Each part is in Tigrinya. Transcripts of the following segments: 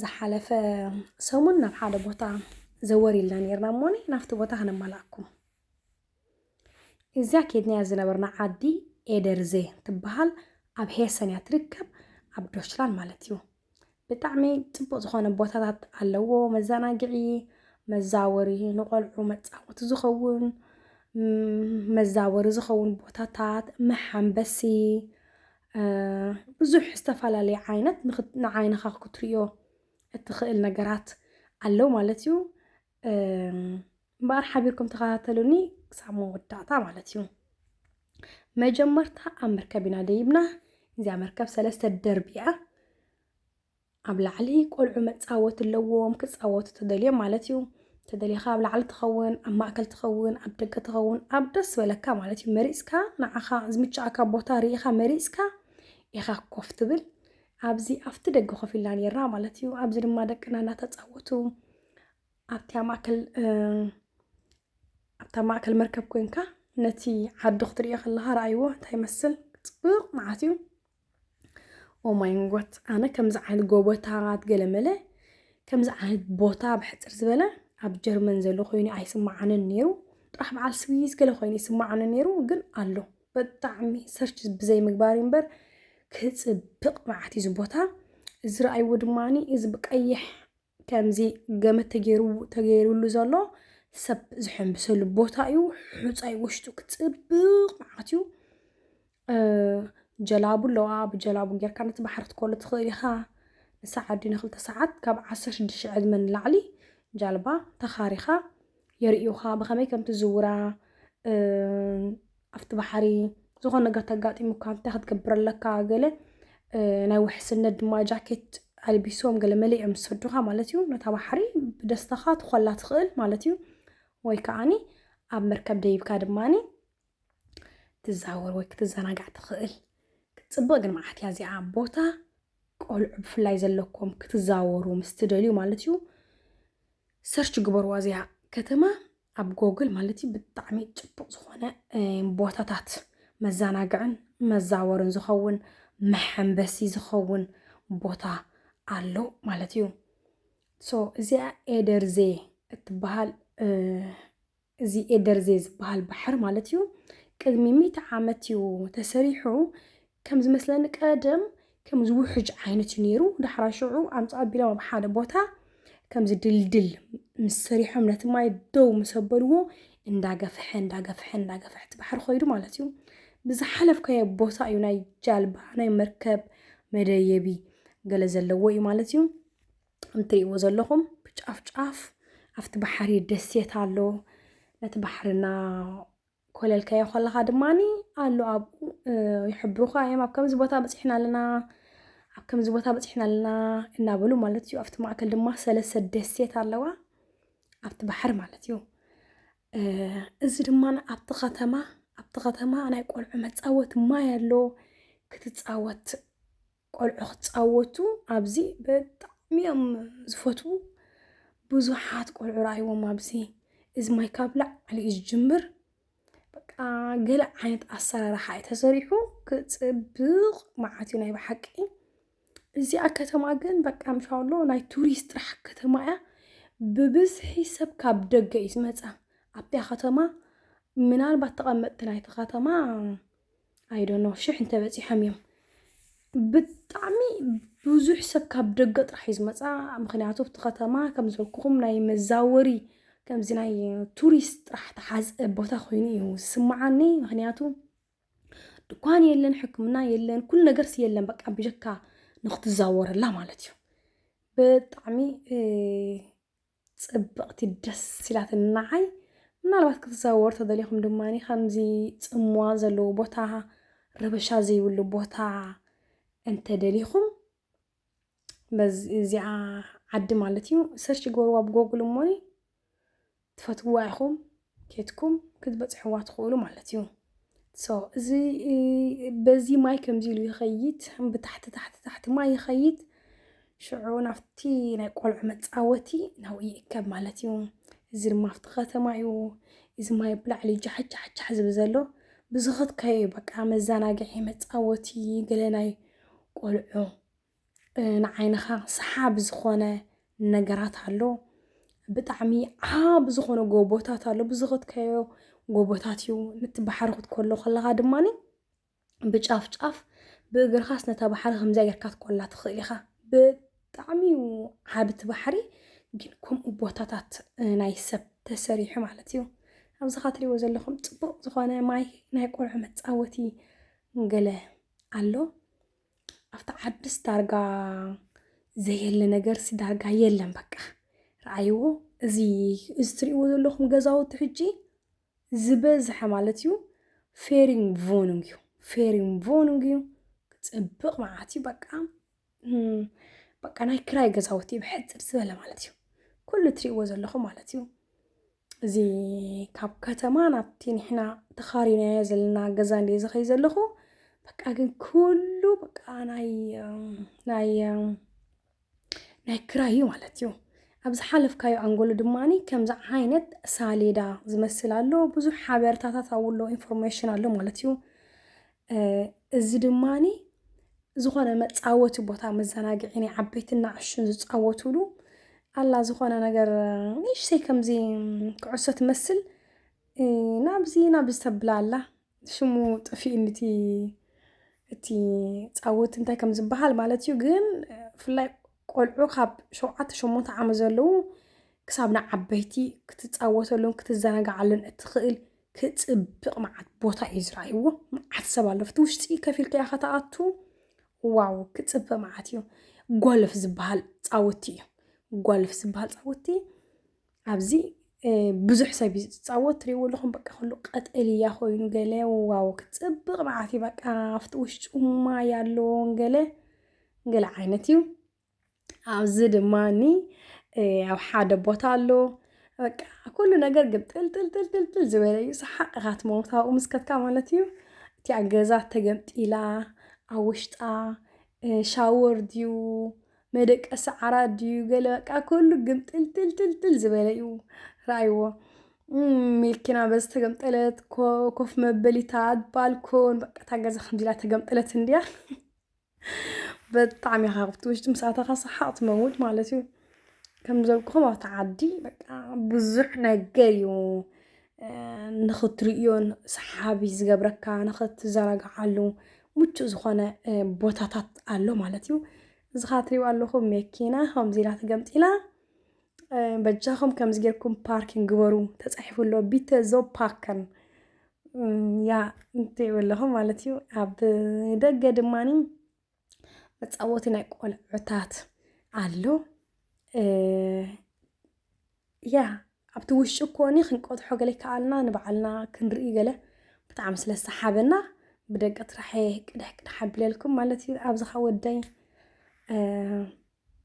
ዝሓለፈ ሰሙን ናብ ሓደ ቦታ ዘወር ኢልና ነርና እሞኒ ናብቲ ቦታ ከነማላኣኩም እዚያ ኬድናያ ዝነበርና ዓዲ ኤደርዜ ትበሃል ኣብ ሄሰን እያ ትርከብ ኣብ ዶችላን ማለት እዩ ብጣዕሚ ፅቡቅ ዝኾነ ቦታታት ኣለዎ መዘናግዒ መዛወሪ ንቆልዑ መፃወቲ ዝኸውን መዛወሪ ዝኸውን ቦታታት መሓንበሲ ብዙሕ ዝተፈላለየ ዓይነት ንዓይንኻ ክትሪኦ እትኽእል ነገራት ኣለው ማለት እዩ እምበኣር ሓቢርኩም ተኸታተሉኒ ክሳብ መወዳእታ ማለት እዩ መጀመርታ ኣብ መርከብ ኢና ደይብና እዚኣ መርከብ ሰለስተ ደርቢ እያ ኣብ ላዕሊ ቆልዑ መጻወቲ ኣለዎም ክጻወቱ ተደልዮም ማለት እዩ ተደሊኻ ኣብ ላዕሊ ትኸውን ኣብ ማእከል ትኸውን ኣብ ደገ ትኸውን ኣብ ደስ በለካ ማለት እዩ መሪጽካ ንዓኻ ዝምችኣካ ቦታ ርኢኻ መሪጽካ ኢኻ ኮፍ ትብል ኣብዚ ኣብቲ ደገ ኮፍ ኢልና ነርና ማለት እዩ። ኣብዚ ድማ ደቅና እናተፃወቱ ኣብቲ ማእከል ኣብታ ማእከል መርከብ ኮንካ ነቲ ዓዲ ክትሪኦ ከለካ ረኣይዎ እንታይ ይመስል ፅቡቅ መዓት እዩ። ኦ ማይ ንጎት ኣነ ከምዚ ዓይነት ጎቦታት ገለመለ ከምዚ ዓይነት ቦታ ብሕፅር ዝበለ ኣብ ጀርመን ዘሎ ኮይኑ ኣይስማዓንን ነይሩ ጥራሕ በዓል ስዊዝ ገለ ኮይኑ ይስማዓኒ ነይሩ ግን ኣሎ ብጣዕሚ ሰርች ብዘይ ምግባር እዩ እምበር ክፅብቅ መዓት እዩ እዚ ቦታ እዚ ረኣይዎ ድማኒ እዚ ብቀይሕ ከምዚ ገመድ ተገይሩ ተገይሩሉ ዘሎ ሰብ ዝሕንብሰሉ ቦታ እዩ። ሑፃይ ውሽጡ ክፅብቕ መዓት እዩ። ጀላቡ ኣለዋ ብጀላቡ ጌርካ ነቲ ባሕሪ ትኮሉ ትኽእል ኢኻ። ንሳዕ ዓዲ ንክልተ ሰዓት ካብ ዓሰርተ ሽዱሽተ ሽሕ ዕድመ ንላዕሊ ጃልባ ተኻሪኻ የርእዩኻ ብኸመይ ከም ትዝውራ ኣብቲ ባሕሪ ዝኾነ ነገር ተጋጢሙካ እንታይ ክትገብር ኣለካ ገለ ናይ ውሕስነት ድማ ጃኬት ኣልቢሶም ገለ መሊኦም ዝሰዱኻ ማለት እዩ ነታ ባሕሪ ብደስታኻ ትኾላ ትኽእል ማለት እዩ ወይ ከዓኒ ኣብ መርከብ ደይብካ ድማኒ ትዛወር ወይ ክትዘናጋዕ ትኽእል ክትፅብቕ ግን መዓት እያ እዚኣ ቦታ ቆልዑ ብፍላይ ዘለኩም ክትዛወሩ ምስ ትደልዩ ማለት እዩ ሰርች ግበርዋ እዚኣ ከተማ ኣብ ጎግል ማለት እዩ ብጣዕሚ ፅቡቅ ዝኾነ ቦታታት መዘናግዕን መዛወርን ዝኸውን መሐንበሲ ዝኸውን ቦታ ኣሎ ማለት እዩ ሶ እዚኣ ኤደርዜ እትበሃል እዚ ኤደርዜ ዝበሃል ባሕር ማለት እዩ ቅድሚ ሚእቲ ዓመት እዩ ተሰሪሑ ከም ዝመስለኒ ቀደም ከም ዝውሕጅ ዓይነት እዩ ነይሩ ዳሕራ ሽዑ ኣምፃ ኣቢሎም ኣብ ሓደ ቦታ ከምዚ ድልድል ምስ ሰሪሖም ነቲ ማይ ደው ምስ ኣበልዎ እንዳገፍሐ እንዳገፍሐ እንዳገፍሐ እቲ ባሕሪ ኮይዱ ማለት እዩ ብዝሓለፍካዮ ቦታ እዩ ናይ ጃልባ ናይ መርከብ መደየቢ ገለ ዘለዎ እዩ ማለት እዩ እንትሪእዎ ዘለኹም ብጫፍ ጫፍ ኣብቲ ባሕሪ ደሴት ኣሎ ነቲ ባሕርና ኮለልካዮ ከለኻ ድማ ኣሎ ኣብኡ ይሕብሩኻ እዮም ኣብ ከምዚ ቦታ በፂሕና ኣለና ኣብ ከምዚ ቦታ በፂሕና ኣለና እናበሉ ማለት እዩ ኣብቲ ማእከል ድማ ሰለስተ ደሴት ኣለዋ ኣብቲ ባሕሪ ማለት እዩ እዚ ድማ ኣብቲ ከተማ ኣብቲ ከተማ ናይ ቆልዑ መፃወቲ ማይ ኣሎ ክትፃወት ቆልዑ ክፃወቱ ኣብዚ ብጣዕሚ እዮም ዝፈትዉ ብዙሓት ቆልዑ ረኣይዎም ኣብዚ እዚ ማይ ካብ ላዕሊ እዩ ዝጅምር በቃ ገለ ዓይነት ኣሰራርሓ እዩ ተሰሪሑ ክፅብቕ መዓት እዩ ናይ ብሓቂ እዚኣ ከተማ ግን በቃ ምሻሎ ናይ ቱሪስት ጥራሕ ከተማ እያ ብብዝሒ ሰብ ካብ ደገ እዩ ዝመፃ ኣብታ ከተማ ምናልባት ተቐመጥቲ ናይቲ ከተማ ኣይዶኖ ሽሕ እንተበፂሖም እዮም ብጣዕሚ ብዙሕ ሰብ ካብ ደገ ጥራሕ እዩ ዝመፃ ምክንያቱ ኣብቲ ከተማ ከም ዝበልኩኹም ናይ መዛወሪ ከምዚ ናይ ቱሪስት ጥራሕ ተሓዝ ቦታ ኮይኑ እዩ ዝስማዓኒ ምክንያቱ ድኳን የለን ሕክምና የለን ኩሉ ነገርስ የለን በቃ ብጀካ ንክትዛወረላ ማለት እዩ ብጣዕሚ ጽብቕቲ ደስ ኢላትኒ ንዓይ። ምናልባት ክትዘዋወሩ ተደሊኹም ድማ ከምዚ ጽምዋ ዘለዎ ቦታ ረበሻ ዘይብሉ ቦታ እንተደሊኹም በዚ እዚኣ ዓዲ ማለት እዩ ሰርች ግበርዋ ብጎግል እሞኒ ትፈትውዋ ኢኹም ኬትኩም ክትበፅሕዋ ትኽእሉ ማለት እዩ ሶ እዚ በዚ ማይ ከምዚ ኢሉ ይኸይድ ብታሕቲ ታሕቲ ታሕቲ ማይ ይኸይድ ሽዑ ናብቲ ናይ ቆልዑ መፃወቲ ናብኡ ይእከብ ማለት እዩ እዚ ድማ ኣብቲ ከተማ እዩ እዚ ማይ ብላዕሊ ጃሕጃሕጃሕ ዝብል ዘሎ ብዝኸትካዮ በቃ መዘናግዒ መፃወቲ ገለ ናይ ቆልዑ ንዓይንኻ ሰሓቢ ዝኾነ ነገራት ኣሎ። ብጣዕሚ ዓቢ ዝኾነ ጎቦታት ኣሎ ብዝኸድካዮ ጎቦታት እዩ። ነቲ ባሕሪ ክትኮሎ ከለኻ ድማኒ ብጫፍ ጫፍ ብእግርኻስ ነታ ባሕሪ ከምዚኣ ጌርካ ክትኮላ ትኽእል ኢኻ። ብጣዕሚ እዩ ዓቢ እቲ ባሕሪ ግን ከምኡ ቦታታት ናይ ሰብ ተሰሪሑ ማለት እዩ። ኣብዚ ኻብ ትሪእዎ ዘለኹም ጽቡቕ ዝኾነ ማይ ናይ ቆልዑ መጻወቲ ገለ ኣሎ። ኣብቲ ዓድስ ዳርጋ ዘየለ ነገርሲ ዳርጋ የለን በቃ ረኣይዎ እዚ እዚ ትሪእዎ ዘለኹም ገዛውቲ ሕጂ ዝበዝሐ ማለት እዩ ፌሪንግ ቮኑግ እዩ ፌሪንግ ቮኑግ እዩ ፅብቅ መዓት እዩ በቃ እም፣ በቃ ናይ ክራይ ገዛውቲ እዩ ብሕፅር ዝበለ ማለት እዩ ኩሉ ትሪእዎ ዘለኹም ማለት እዩ እዚ ካብ ከተማ ናብቲ ንሕና ተኻሪናዮ ዘለና ገዛ እንደ ዝኸይ ዘለኹ በቃ ግን ኩሉ በቃ ናይ ናይ ናይ ክራይ እዩ ማለት እዩ ኣብ ዝሓለፍካዮ ኣንጎሎ ድማ ከምዚ ዓይነት ሳሌዳ ዝመስል ኣሎ ብዙሕ ሓበሬታታት ኣብኡ ኣሎ ኢንፎርሜሽን ኣሎ ማለት እዩ እዚ ድማ ዝኾነ መፃወቲ ቦታ መዘናግዒ ናይ ዓበይትን ንኣሽቱን ዝፃወትሉ ኣላ ዝኾነ ነገር ንእሽተይ ከምዚ ኩዕሶ ትመስል ናብዚ ናብዚ ተብላ ኣላ ሽሙ ጠፊኡኒ እቲ እቲ ፃወት እንታይ ከም ዝበሃል ማለት እዩ ግን ብፍላይ ቆልዑ ካብ ሸውዓተ ሸሞንተ ዓመት ዘለዉ ክሳብ ንዓበይቲ ክትፃወተሉን ክትዘናግዓሉን እትኽእል ክጽብቅ መዓት ቦታ እዩ ዝረኣይዎ መዓት ሰብ ኣሎ ኣብቲ ውሽጢ ከፍ ኢልካ ኢኻ ትኣቱ ዋው ክጽብቅ መዓት እዩ ጎልፍ ዝበሃል ጻውቲ እዩ ጎልፍ ዝበሃል ጻውቲ ኣብዚ እ፣ ብዙሕ ሰብ እዩ ዝጻወት ትሪእዎ ኣለኹም በቃ ኩሉ ቀጠልያ ኮይኑ ገለ ዋው ክጽብቅ መዓት እዩ በቃ ኣብቲ ውሽጡ ማይ ኣለዎ ገለ ገለ ዓይነት እዩ ኣብዚ ድማ እኒ ኣብ ሓደ ቦታ ኣሎ በቃ ኩሉ ነገር ግምጥልጥልጥልጥል ዝበለ እዩ ሰሓቕ ኢኻ ትመውት ኣብኡ ምስ ከድካ ማለት እዩ እቲኣ ገዛ ተገምጢላ ኣብ ውሽጣ ሻወር ድዩ መደቀሲ ዓራት ድዩ ገለ በቃ ኩሉ ግምጥልጥልጥልጥል ዝበለ እዩ ረኣይዎ ሚልኪና በዚ ተገምጠለት ኮፍ መበሊታት ባልኮን በቃ እታ ገዛ ከምዚ ኢላ ተገምጠለት እንድያ በጣዕሚ ኢኻ ኣብቲ ውሽጢ ምስ ኣተኻ ሰሓቕ ትመውት ማለት እዩ። ከም ዝበልኩኹም ኣብቲ ዓዲ በቃ ብዙሕ ነገር እዩ ንኽትርእዮን ሰሓቢ ዝገብረካ ንኽትዘናግዓሉ ምቹእ ዝኾነ ቦታታት ኣሎ ማለት እዩ። እዚ ኸዓ እትሪእዎ ኣለኹም መኪና ከምዚ ኢላ ተገምጢላ በጃኹም ከምዚ ጌርኩም ፓርኪን ግበሩ ተፃሒፉ ኣሎ ቢተ ዞብ ፓከን ያ እንትይብ ኣለኹ ማለት እዩ ኣብ ደገ ድማኒ መፃወቲ ናይ ቆልዑታት ኣሎ ያ ኣብቲ ውሽጢ ኮኒ ክንቆትሖ ገለ ይከኣልና ንበዓልና ክንርኢ ገለ ብጣዕሚ ስለ ሰሓበና ብደቂ ጥራሕ ቅድሕ ቅድሕ ኣቢለልኩም ማለት እዩ ኣብዚ ኸ ወደይ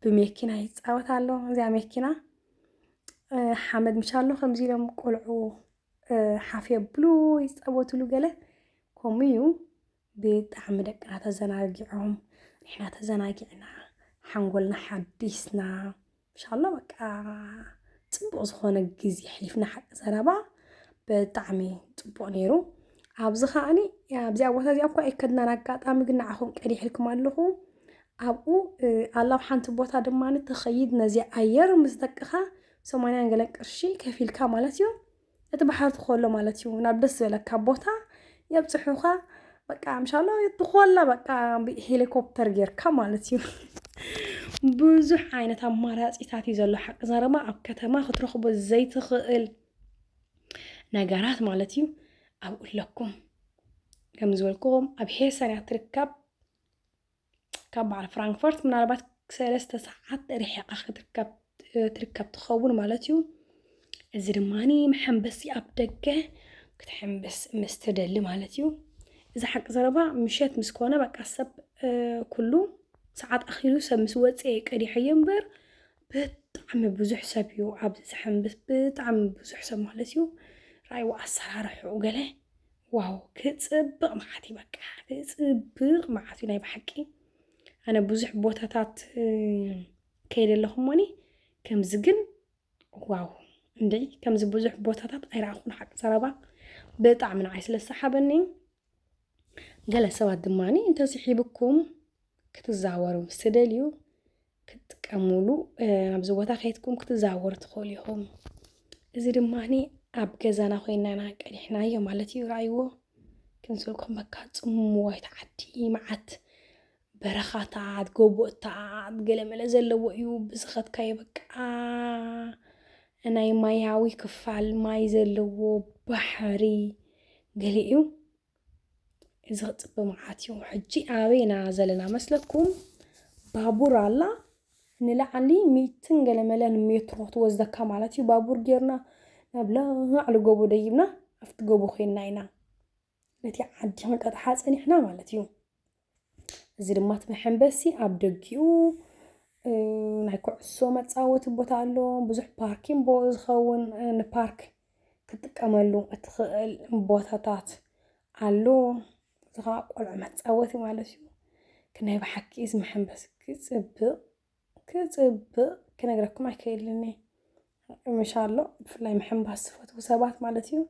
ብመኪና ይፃወት ኣሎ እዚኣ መኪና ሓመድ ምሻሎ ከምዚ ኢሎም ቆልዑ ሓፍ የብሉ ይፃወትሉ ገለ ከምኡ እዩ ብጣዕሚ ደቅና ተዘናጊዖም ንሕና ተዘናጊዕና ሓንጎልና ሓዲስና ምሻሎ በቃ ፅቡቅ ዝኮነ ግዜ ኣሕሊፍና ሓቂ ዘረባ ብጣዕሚ ፅቡቅ ነይሩ ኣብዚ ከዓኒ ኣብዚኣ ቦታ እዚኣ እኳ ኣይከድናን ኣጋጣሚ ግን ንዓኹም ቀዲሕልኩም ኣለኹ ኣብኡ ኣላብ ሓንቲ ቦታ ድማ ትኸይድ ነዚ ኣየር ምስ ደቅኻ ሰማንያን ገለን ቅርሺ ከፊልካ ማለት እዩ እቲ ባሕሪ ትኸሎ ማለት እዩ ናብ ደስ ዝበለካ ቦታ የብፅሑኻ በቃ ምሻሎ ትኾላ በቃ ሄሊኮፕተር ጌርካ ማለት እዩ ብዙሕ ዓይነት ኣማራፂታት እዩ ዘሎ ሓቂ ዘረባ ኣብ ከተማ ክትረኽቦ ዘይትኽእል ነገራት ማለት እዩ ኣብኡ ኣለኩም ከም ዝበልክዎም ኣብ ሄሰን እያ ትርከብ ካብ በዓል ፍራንክፈርት ምናልባት ሰለስተ ሰዓት ርሒቓ ክትርከብ ትርከብ ትኸውን ማለት እዩ እዚ ድማ መሐንበሲ ኣብ ደገ ክትሕንብስ ምስ ትደሊ ማለት እዩ እዚ ሓቂ ዘረባ ምሸት ምስ ኮነ በቃ ሰብ ኩሉ ሰዓት ኣኺሉ ሰብ ምስ ወፅኤ ቀዲሐዮ እምበር ብጣዕሚ ብዙሕ ሰብ እዩ ኣብዚ ዝሕምብስ ብጣዕሚ ብዙሕ ሰብ ማለት እዩ ራእይዎ ኣሰራርሕኡ ገለ ዋው ክፅብቕ መዓት እዩ በቃ ክፅብቕ መዓት እዩ ናይ ብሓቂ ኣነ ብዙሕ ቦታታት ከይደ ኣለኹ እሞኒ ከምዚ ግን ዋው እንደ ከምዚ ብዙሕ ቦታታት ኣይረኣኹን ሓቂ ዘረባ ብጣዕሚ ንዓይ ስለ ዝሰሓበኒ ገለ ሰባት ድማ እንተስሒብኩም ክትዛወሩ ምስ ትደልዩ ክትጥቀሙሉ ኣብዚ ቦታ ከይትኩም ክትዛወሩ ትኽእሉ ኢኹም። እዚ ድማ ኣብ ገዛና ኮይና ኢና ቀዲሕናዮ ማለት እዩ። ረኣይዎ ክንስልኩም በካ ጽምዋይት ዓዲ መዓት በረኻታት፣ ጎቦታት፣ ገለመለ ዘለዎ እዩ፣ ብዝኸድካዮ በቃ ናይ ማያዊ ክፋል ማይ ዘለዎ ባሕሪ ገሊኡ እዚ ክፅበ መዓት እዩ ሕጂ ኣበይ ኢና ዘለና መስለኩም ባቡር ኣላ ንላዕሊ ሚትን ገለመለን ሜትሮ ትወስደካ ማለት እዩ ባቡር ጌርና ናብ ላዕሊ ጎቦ ደይብና ኣብቲ ጎቦ ኮይና ኢና ነቲ ዓዲ ክንቀጥሓ ጸኒሕና ማለት እዩ። እዚ ድማ እቲ መሐንበሲ ኣብ ደጊኡ ናይ ኩዕሶ መፃወቲ ቦታ ኣሎ ብዙሕ ፓርኪን ቦ ዝኸውን ንፓርክ ክትጥቀመሉ እትኽእል ቦታታት ኣሎ እዚ ከዓ ቆልዑ መፃወቲ ማለት እዩ ናይ ብሓቂ እዚ መሐንበሲ ክፅብቅ ክጽብቅ ክነግረኩም ኣይክእልን እየ ምሻሎ ብፍላይ ምሕንባስ ዝፈትዉ ሰባት ማለት እዩ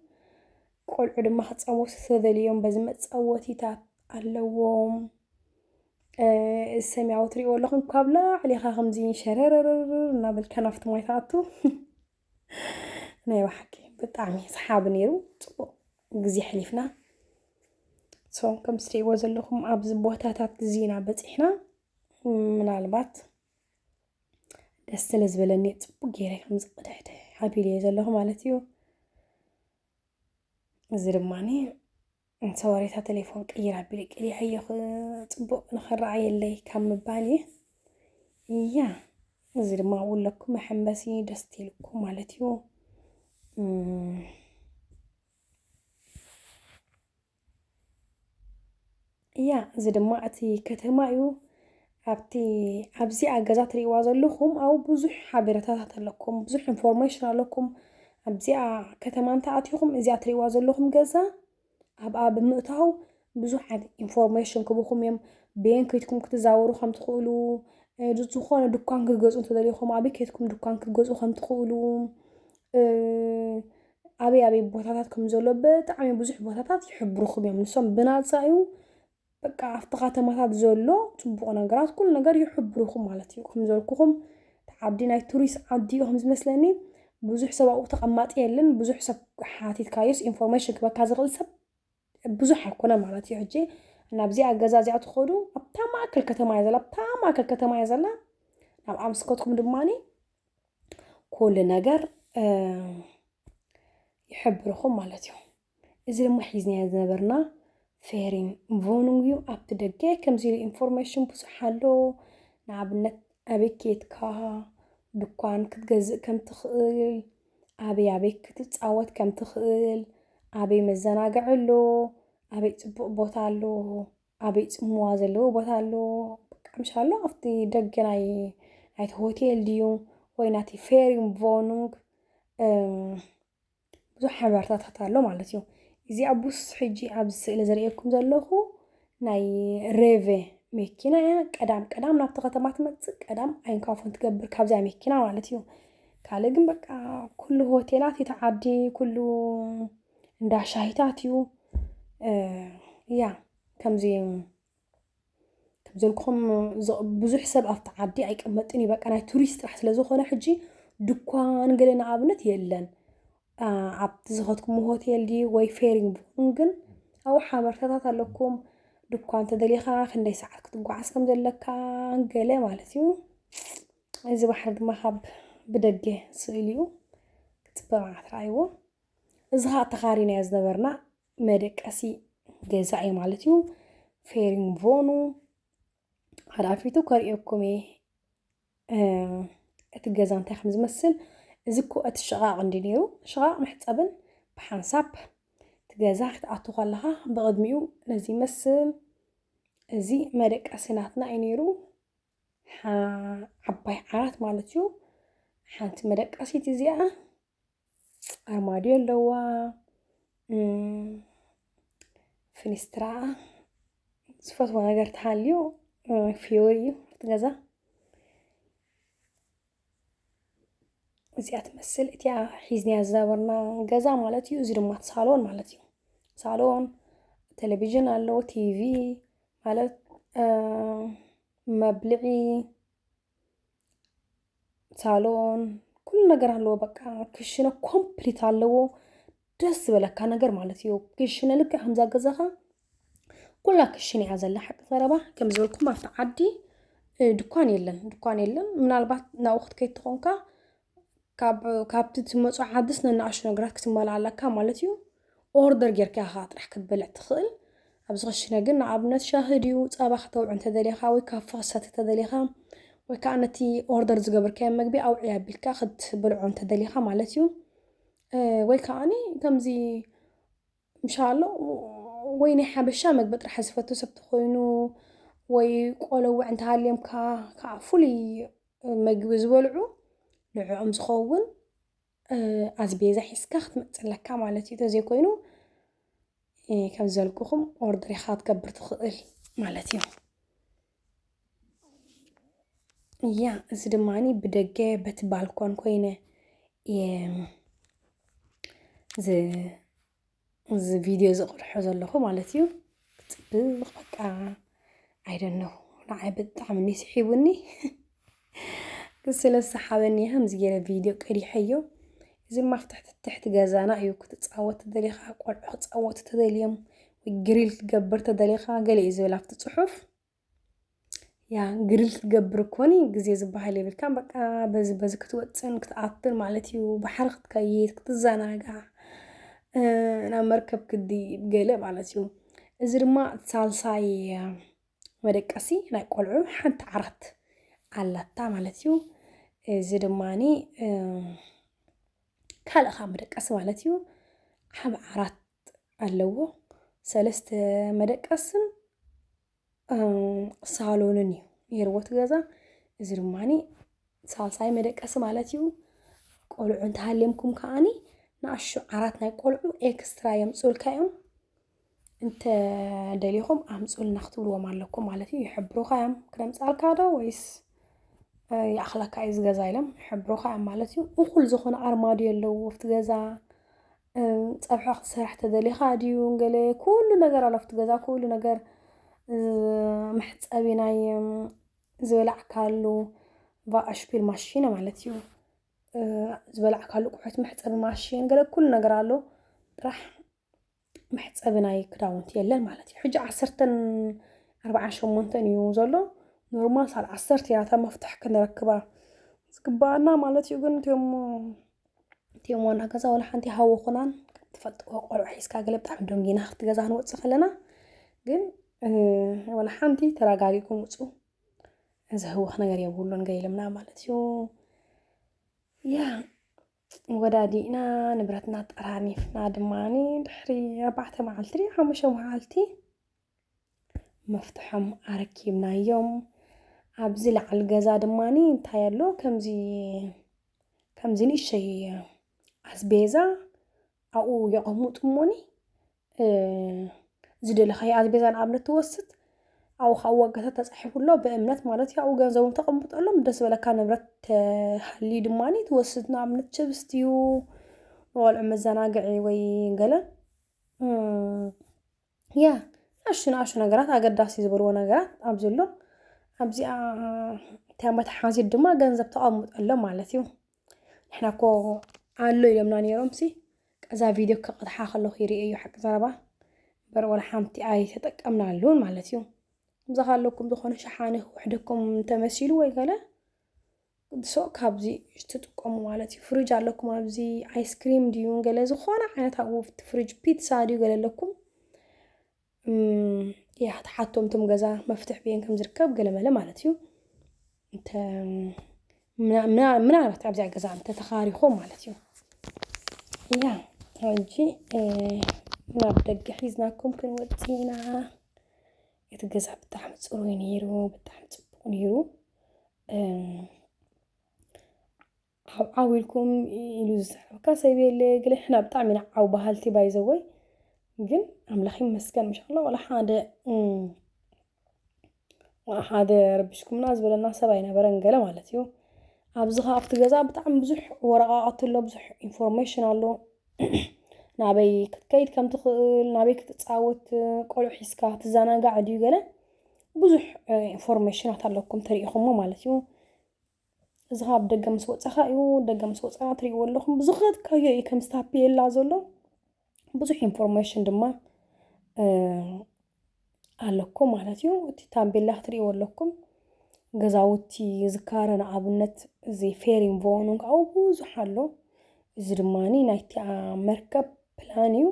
ቆልዑ ድማ ክጻወቱ ተደልዮም በዚ መጻወቲታት ኣለዎም ሰማያዊ ትሪእዎ ኣለኹም ካብ ላዕሊኻ ከምዚ ሸረረረር እናበልካ ናብቲ ማይ ትኣቱ ናይ ባሓቂ ብጣዕሚ ሰሓቢ ነይሩ ፅቡቅ ግዜ ሕሊፍና ሶም ከም ትሪእዎ ዘለኹም ኣብዚ ቦታታት ግዜና በፂሕና ምናልባት ደስ ስለ ዝበለኒ ፅቡቅ ገይረ ከምዚ ቅድሕደ ሓቢለየ ዘለኹ ማለት እዩ እዚ ድማ ሰወሬታ ቴሌፎን ቅይር ኣቢለ ቀይሐዮ ፅቡቅ ንኽረኣየለይ ካብ ምባል እየ እያ እዚ ድማ ውለኩ መሐንበሲ ደስ ትልኩ ማለት እዩ እያ እዚ ድማ እቲ ከተማ እዩ ኣብቲ ኣብዚኣ ገዛ ትሪእዋ ዘለኹም ኣብኡ ብዙሕ ሓበሬታታት ኣለኩም ብዙሕ ኢንፎርሜሽን ኣለኩም ኣብዚኣ ከተማ እንተኣቲኹም እዚኣ ትሪእዋ ዘለኹም ገዛ ኣብኣ ብምእታው ብዙሕ ዓይነት ኢንፎርሜሽን ክብኹም እዮም በየን ከይትኩም ክትዛወሩ ከም ትኽእሉ ዝኾነ ድኳን ክትገዝኡ እንተደሊኹም ኣብይ ከይትኩም ድኳን ክትገዝኡ ከም ትኽእሉ ኣበይ ኣበይ ቦታታት ከም ዘሎ ብጣዕሚ ብዙሕ ቦታታት ይሕብርኹም እዮም ንሶም ብናፃ እዩ በቃ ኣብቲ ከተማታት ዘሎ ፅቡቕ ነገራት ኩሉ ነገር ይሕብርኹም ማለት እዩ ከም ዘልኩኹም እቲ ዓዲ ናይ ቱሪስት ዓዲ እዩ ከም ዝመስለኒ ብዙሕ ሰብ ኣብኡ ተቐማጢ የለን ብዙሕ ሰብ ሓቲትካዮስ ኢንፎርሜሽን ክበካ ዝኽእል ሰብ ብዙሕ ኣይኮነን ማለት እዩ ሕጂ እና ብዚኣ ገዛ እዚኣ ትኸዱ ኣብታ ማእከል ከተማ እያ ዘላ ኣብታ ማእከል ከተማ እያ ዘላ ናብ ኣምስከትኩም ድማኒ ኩሉ ነገር ይሕብርኹም ማለት እዩ እዚ ድማ ሒዝናዮ ዝነበርና ፌሪን ቮኑን እዩ ኣብቲ ደገ ከምዚ ኢሉ ኢንፎርሜሽን ብዙሕ ኣሎ ንኣብነት ኣበይ ኬትካ ድኳን ክትገዝእ ከም ትኽእል ኣበይ ኣበይ ክትጻወት ከም ትኽእል፣ ኣበይ መዘናግዒ ኣሎ፣ ኣበይ ጽቡቕ ቦታ ኣሎ፣ ኣበይ ጽምዋ ዘለዎ ቦታ ኣሎ፣ በቃ ምሽ ኣሎ ኣብቲ ደገ ናይ ናይቲ ሆቴል ድዩ ወይ ናቲ ፌሪም ቮኑንግ ብዙሕ ሓበርታታት ኣሎ ማለት እዩ። እዚ ኣቡስ ሕጂ ኣብዚ ስእሊ ዘርእየኩም ዘለኹ ናይ ሬቬ መኪና እያ ቀዳም ቀዳም ናብቲ ከተማ ትመፅእ ቀዳም ኣይንካፎን ትገብር ካብዚያ መኪና ማለት እዩ ካልእ ግን በቃ ኩሉ ሆቴላት እቲ ዓዲ ኩሉ እንዳ ሻሂታት እዩ እያ ከምዚ ከምዘልኩም ብዙሕ ሰብ ኣብቲ ዓዲ ኣይቀመጥን እዩ በቃ ናይ ቱሪስት ጥራሕ ስለዝኾነ ሕጂ ድኳን ገለ ንኣብነት የለን ኣብቲ ዝኸትኩሞ ሆቴል ድዩ ወይ ፌሪንግ ብኹን ግን ኣብኡ ሓበርታታት ኣለኩም ድኳ እንተደሊኻ ክንደይ ሰዓት ክትጓዓዝ ከም ዘለካ ገለ ማለት እዩ እዚ ባሕሪ ድማ ካብ ብደገ ስእሊ እዩ ክፅበ መዓት ረኣይዎ እዚ ከዓ ተኻሪናዮ ዝነበርና መደቀሲ ገዛ እዩ ማለት እዩ ፌሪንግ ቮኑ ሓላፊቱ ከርእየኩም እየ እቲ ገዛ እንታይ ከም ዝመስል እዚ እኮ እቲ ሽቓቕ እንዲ ነይሩ ሽቓቕ መሕፀብን ብሓንሳብ እቲ ገዛ ክትኣቱ ከለኻ ብቕድሚኡ ነዚ ይመስል እዚ መደቀሲ ናትና እዩ ነይሩ ዓባይ ዓራት ማለት እዩ ሓንቲ መደቀሲት እዚኣ ኣርማድዮ ኣለዋ ፍኒስትራ ዝፈትዎ ነገር ተሃልዩ ፍዮሪ እዩ እቲ ገዛ እዚኣ ትመስል እቲኣ ሒዝናያ ዝነበርና ገዛ ማለት እዩ እዚ ድማ ሳሎን ማለት እዩ ሳሎን ቴሌቪዥን ኣለዎ ቲቪ ማለት መብልዒ ሳሎን ኩሉ ነገር ኣለዎ። በቃ ክሽነ ኮምፕሊት ኣለዎ። ደስ ዝበለካ ነገር ማለት እዩ ክሽነ ልክ ከምዛ ገዛኻ ኩላ ክሽነ እያ ዘላ ሓቂ ዘረባ ከም ዝበልኩም ኣብቲ ዓዲ እ፣ ድኳን የለን ድኳን የለን ምናልባት ናብኡ ክትከይድ ተኾንካ ካብ ካብቲ ትመጾ ዓድስ ነናኣሽቱ ነገራት ክትማላእ ኣለካ ማለት እዩ ኦርደር ጌርካ ኢኻ ጥራሕ ክትበልዕ ትኽእል ኣብዚ ክሽነ ግን ንኣብነት ሻሂ ድዩ ጸባ ከተውዕ እንተደሊኻ ወይ ካፈ ክሰቲ ተደሊኻ ወይ ከዓ ነቲ ኦርደር ዝገበርካዮ መግቢ ኣውዕያ ኣቢልካ ክትበልዖ እንተደሊኻ ማለት እዩ ወይ ከዓኒ ከምዚ ምሻኣሎ ወይ ናይ ሓበሻ መግቢ ጥራሕ ዝፈቱ ሰብ ተኾይኑ ወይ ቆሎ ውዕ እንተሃልዮምካ ከዓ ፍሉይ መግቢ ዝበልዑ ንዕኦም ዝኸውን ኣዝቤዛ ሒዝካ ክትመፅእ ኣለካ ማለት እዩ ተዘይኮይኑ ከም ዘልኩኹም ኦርደር ኢኻ ክትገብር ትኽእል ማለት እዩ ያ እዚ ድማ ብደገ በቲ ባልኮን ኮይነ እየ እዚ ቪድዮ ዝቕርሖ ዘለኹ ማለት እዩ ፅብቅ በቃ ኣይደነኹ ንዓይ ብጣዕሚ ስሒቡኒ ስለ ሰሓበኒ ከምዚ ገይረ ቪድዮ ቀዲሐዮ። እዚ ድማ ኣብ ትሕቲ ትሕቲ ገዛና እዩ ክትፃወት ተደሊኻ ቆልዑ ክፃወቱ ተደልዮም ወይ ግሪል ክትገብር ተደሊኻ ገለ እዩ ዝብል ኣብቲ ፅሑፍ ያ ግሪል ክትገብር እኮኒ ግዜ ዝበሃል የብልካን በቃ በዚ በዚ ክትወፅን ክትኣትን ማለት እዩ ባሕሪ ክትከይድ ክትዘናጋዕ ናብ መርከብ ክድይብ ገለ ማለት እዩ እዚ ድማ ሳልሳይ መደቀሲ ናይ ቆልዑ ሓንቲ ዓራት ኣላታ ማለት እዩ እዚ ድማኒ ካልእ ካብ መደቀሲ ማለት እዩ ዓብ ዓራት ኣለዎ ሰለስተ መደቀስን ሳሎንን እዩ ነይርዎ እቲ ገዛ እዚ ድማኒ ሳልሳይ መደቀሲ ማለት እዩ። ቆልዑ እንተሃልዮምኩም ከዓኒ ንኣሹ ዓራት ናይ ቆልዑ ኤክስትራ የምፅኡልካ እዮም እንተ ደሊኹም ኣምፁልና ክትብልዎም ኣለኩም ማለት እዩ። ይሕብሩኻ እዮም ክነምፅኣልካ ዶ ወይስ ይኣኽለካ እዩ ዝገዛ ኢሎም ይሕብሩኻ እዮም ማለት እዩ። እኹል ዝኾነ ኣርማድዮ ኣለዎ ኣብቲ ገዛ ፀብሒ ክትሰርሕ ተደሊኻ ድዩ ገለ ኩሉ ነገር ኣሎ ኣብቲ ገዛ ኩሉ ነገር መሕፀቢ ናይ ዝበላዕካሉ ቫኣሽፒል ማሽነ ማለት እዩ ዝበላዕካሉ ቁሑት መሕፀቢ ማሽን ገለ ኩሉ ነገር ኣሎ ጥራሕ መሕፀቢ ናይ ክዳውንቲ የለን ማለት እዩ ሕጂ ዓሰርተን ኣርባዓን ሸሞንተን እዩ ዘሎ ኖርማል ሳል ዓሰርተ እያ እታ መፍትሕ ክንረክባ ዝግባኣና ማለት እዩ ግን እትዮሞ እቲኦም ዋና ገዛ ዋላ ሓንቲ ሃወኹናን ትፈልጥዎ ቆልዑ ሒዝካ ገለ ብጣዕሚ ደንጊና ክፍቲ ገዛ ክንወፅእ ከለና ግን ዋላ ሓንቲ ተረጋጊኩም ውፁ ዘህወኽ ነገር የብሉን ገይልምና ማለት እዩ ያ ወዳዲእና ንብረትና ጠራኒፍና ድማ ድሕሪ ኣርባዕተ መዓልቲ ሓሙሽተ መዓልቲ መፍትሖም ኣረኪብናዮም ኣብዚ ላዕሊ ገዛ ድማ እንታይ ኣሎ ከምዚ ከምዚ ንእሸይ ኣስቤዛ ኣብኡ የቐምጡ እሞኒ ዝደለኻዮ ኣስቤዛ ንኣብነት ትወስድ ኣብኡ ከዓ ዋጋታት ተፃሒፉ ኣሎ ብእምነት ማለት እዩ ኣብኡ ገንዘቦም ተቐምጠሎም ደስ በለካ ንብረት ተሃልዩ ድማ ትወስድ ንኣብነት ችብስ ድዩ ንቆልዑ መዘናግዒ ወይ ገለ ያ ንኣሽቱ ንኣሽቱ ነገራት ኣገዳሲ ዝበልዎ ነገራት ኣብዚ ኣሎ ኣብዚኣ እታ መትሓዚት ድማ ገንዘብ ተቐምጦ ኣሎ ማለት እዩ ንሕና እኮ ኣሎ ኢሎምና ነይሮም ሲ እዛ ቪድዮ ክቕድሓ ከለኹ ይርአ እዩ ሓቂ ዘረባ እምበር ወላ ሓንቲ ኣይተጠቀምናሉን ማለት እዩ ከምዚ ካለኩም ዝኾነ ሸሓኒ ክውሕደኩም ተመሲሉ ወይ ገለ ሶ ካብዚ ትጥቀሙ ማለት እዩ ፍሪጅ ኣለኩም ኣብዚ ኣይስክሪም ድዩ ገለ ዝኾነ ዓይነት ኣብኡ ፍሪጅ ፒትሳ ድዩ ገለ ኣለኩም እያ ትሓቶም ትም ገዛ መፍትሕ ብየን ከም ዝርከብ ገለ መለ ማለት እዩ እንተ ምናልባት ኣብዚኣ ገዛ እንተ ተኻሪኹም ማለት እዩ እያ ሕጂ ናብ ደገ ሒዝናኩም ክንወፅ ኢና እቲ ገዛ ብጣዕሚ ፅሩይ ነይሩ፣ ብጣዕሚ ፅቡቕ ነይሩ። ዓው ዓው ኢልኩም ኢሉ ዝዛረበካ ሰብ የለ ግለ ሕና ብጣዕሚ ኢና ዓው በሃልቲ ባይዘወይ ግን ኣምላኽ ይመስገን ምሻላ ዋላ ሓደ ሓደ ረቢሽኩምና ዝበለና ሰብ ኣይነበረን ገለ ማለት እዩ ኣብዚ ከ ኣብቲ ገዛ ብጣዕሚ ብዙሕ ወረቃቅቲ ኣሎ ብዙሕ ኢንፎርሜሽን ኣሎ ናበይ ክትከይድ ከም ትኽእል ናበይ ክትፃወት ቆልዑ ሒዝካ ትዘናጋዕ ድዩ ገለ ብዙሕ ኢንፎርሜሽናት ኣለኩም ተሪኢኹሞ ማለት እዩ እዚ ካብ ደገ ምስ ወፀኻ እዩ ደገ ምስ ወፀና ትሪእዎ ኣለኹም ብዝኸትካዮ እዩ ከም ስታፔላ ዘሎ ብዙሕ ኢንፎርሜሽን ድማ ኣለኩም ማለት እዩ እቲ ታምቤላ ክትሪእዎ ኣለኩም ገዛውቲ ዝካረ ንኣብነት እዚ ፌሪን ቮን እውን ካብኡ ብዙሕ ኣሎ እዚ ድማ ናይቲ መርከብ ፕላን እዩ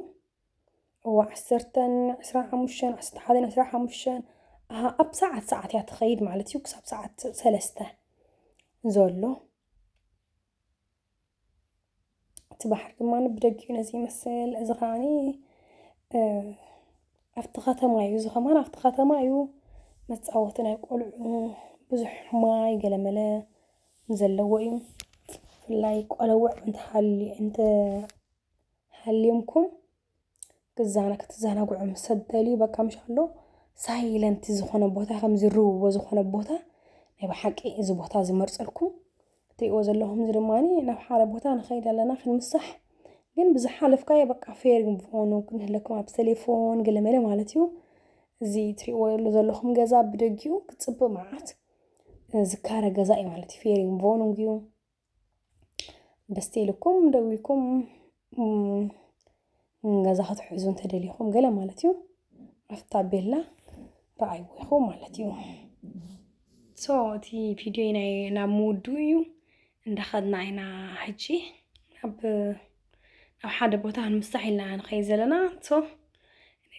እዋ ዓሰርተን ዕስራን ሓሙሽተን ዓሰርተ ሓደን ዕስራ ሓሙሽተን ኣሃ ኣብ ሰዓት ሰዓት እያ ትኸይድ ማለት እዩ ክሳብ ሰዓት ሰለስተ ዘሎ እቲ ባሕሪ ድማ ብደጊኡ ነዚ ይመስል እዚ ከዓኒ ኣብቲ ከተማ እዩ እዚ ከማን ኣብቲ ከተማ እዩ መፃወቲ ናይ ቆልዑ ብዙሕ ማይ ገለመለ ዘለዎ እዩ ብፍላይ ቆለውዕ እንተሃልዩ እንተሃልዮምኩም ክዛነ ክትዛናግዑ ምስ ሰብ ትደልዩ በቃ ምሽ ኣሎ ሳይለንት ዝኾነ ቦታ ከም ዝርውዎ ዝኾነ ቦታ ናይ ብሓቂ እዚ ቦታ ዝመርጸልኩም እትሪእዎ ዘለኹም እዚ ድማ ናብ ሓደ ቦታ ንኸይድ ኣለና ክንምሳሕ ግን ብዝሓለፍካዮ በቃ ፌር ምኾኑ ክንህለኩም ኣብ ቴሌፎን ገለመለ ማለት እዩ እዚ እትሪእዎ ዘለኹም ገዛ ብደጊኡ ክጽብቕ መዓት ዝካረ ገዛ እዩ ማለት እዩ ፌር ምቮኑግ እዩ ደስ ኢልኩም ደው ኢልኩም ገዛ ክትሕዙ እንተደሊኹም ገለ ማለት እዩ ኣብታ ቤላ ረኣይዎ ኢኹም ማለት እዩ ሶ እቲ ቪድዮ ናይ ናብ ምውድኡ እዩ እንዳኸድና ኢና ሕጂ ናብ ናብ ሓደ ቦታ ክንምሳሕ ኢልና ንኸይድ ዘለና ሶ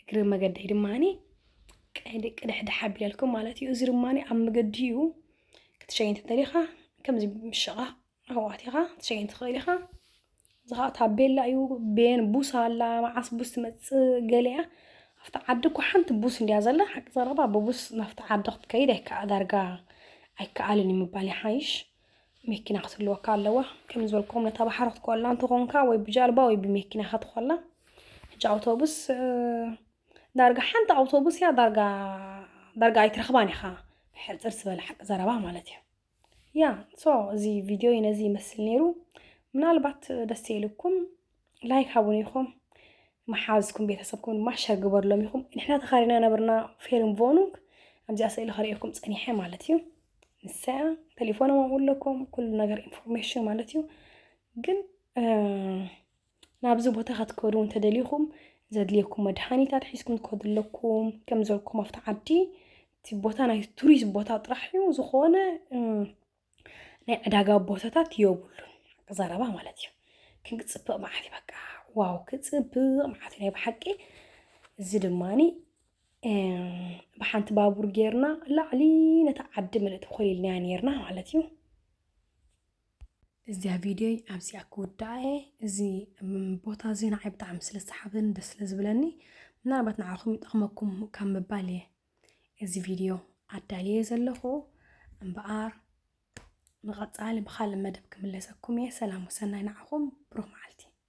እግሪ መገደይ ድማኒ ቅድሕድሕ ኣቢለልኩም ማለት እዩ እዚ ድማኒ ኣብ መገዲ እዩ ክትሸይን እንተደሊኻ ከምዚ ምሽቓቕ ኣሕዋት ኢኻ ክትሸይን ትኽእል ኢኻ እዚ ከዓ ታቤላ እዩ ቤን ቡስ ኣላ መዓስ ቡስ ትመፅእ ገለ እያ ኣብቲ ዓዲ እኮ ሓንቲ ቡስ እንድያ ዘላ ሓቂ ዘረባ ብቡስ ናብቲ ዓዲ ክትከይድ ኣይከዓ ዳርጋ ኣይከኣልን እዩ ምባል ይሓይሽ መኪና ክትህልወካ ኣለዋ ከም ዝበልኩም ነታ ባሕሪ ክትኮላ እንተኾንካ ወይ ብጃልባ ወይ ብመኪና ክትኮላ ሕጂ ኣውቶቡስ ዳርጋ ሓንቲ ኣውቶቡስ እያ ዳርጋ ዳርጋ ኣይትረኽባን ኢኻ ሕፅር ዝበለ ሓቂ ዘረባ ማለት እዩ ያ ሶ እዚ ቪድዮ ነዚ ይመስል ነይሩ ምናልባት ደስ ኢልኩም ላይክ ሃቡን ኢኹም መሓዝኩም ቤተሰብኩም ድማ ሸር ግበርሎም ኢኹም ንሕና ተኻሪና ነብርና ፌርም ቮኑግ ኣብዚኣ ስእሊ ከርእየኩም ፀኒሐ ማለት እዩ ንሰያ ቴሌፎኖም ኣብኡ ኣለኩም ኩሉ ነገር ኢንፎርሜሽን ማለት እዩ ግን ናብዚ ቦታ ከትከዱ እንተደሊኹም ዘድልየኩም መድሓኒታት ሒዝኩም ትከዱ ኣለኩም ከም ዘልኩም ኣብቲ ዓዲ እቲ ቦታ ናይ ቱሪስት ቦታ ጥራሕ እዩ ዝኾነ ናይ ዕዳጋ ቦታታት የብሉን ዘረባ ማለት እዩ ክንክፅብቕ መዓት እዩ በቃ ዋው ክፅብቕ መዓት ናይ ብሓቂ እዚ ድማኒ ብሓንቲ ባቡር ጌርና ላዕሊ ነታ ዓዲ ምልእቲ ኮሊልናያ ነርና ማለት እዩ እዚኣ ቪድዮይ ኣብዚኣ ክውድኣ እየ እዚ ቦታ እዚ ንዓይ ብጣዕሚ ስለ ዝሰሓበኒ ደስ ስለ ዝብለኒ ምናልባት ንዓኹም ይጠቕመኩም ካብ ምባል እየ እዚ ቪድዮ ኣዳልየ ዘለኹ እምበኣር ንቐፃሊ ብካልእ መደብ ክምለሰኩም እየ ሰላም ወሰናይ ንዓኹም ብሩኽ መዓልቲ